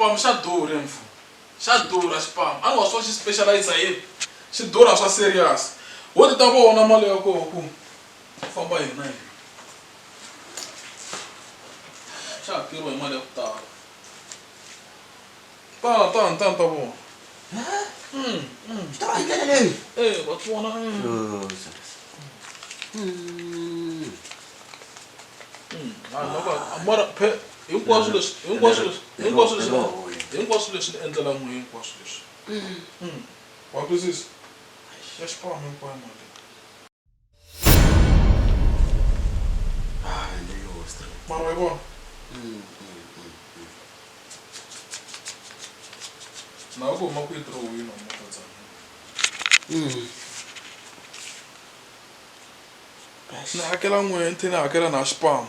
Xipamu xa durha hi mfo. Xa durha xipamu. Anwa swo xi specializer hi yini? Xi durha swa serious. Wo ti ta vona mali ya koho ku famba yini na yini. Xa hakeriwa hi mali ya ku tala. Tana tana tana ta vona. Xi durha hi ndlela leyi. E wa swi vona. Mara phela. hinkwaswo leswi hinkwaswo leswi hinkwaswo leswi hinkwaswo leswi ni endlela n'we hinkwaswo leswi mm. wa twisisa ya xikwama hinkwayo mali mara wa yi vona na ku huma ku yi tirowini wa makatsana ni hakela n'we nthini hakela na xipamu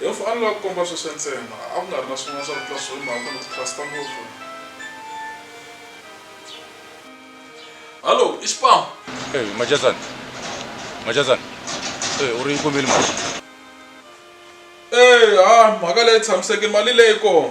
Yehovha a lava ku komba sweswo ntsena, a ku nga ri na swin'wana swa ku tlula sweswo hi mhaka ku ni ku trust-a ngopfu. Hallo, i Xipamu? Eyi, Majazan. Majazan. Eyi, u ri yi kumile mali. Eyi, ha, mhaka leyi tshamiseke, mali leyi kona.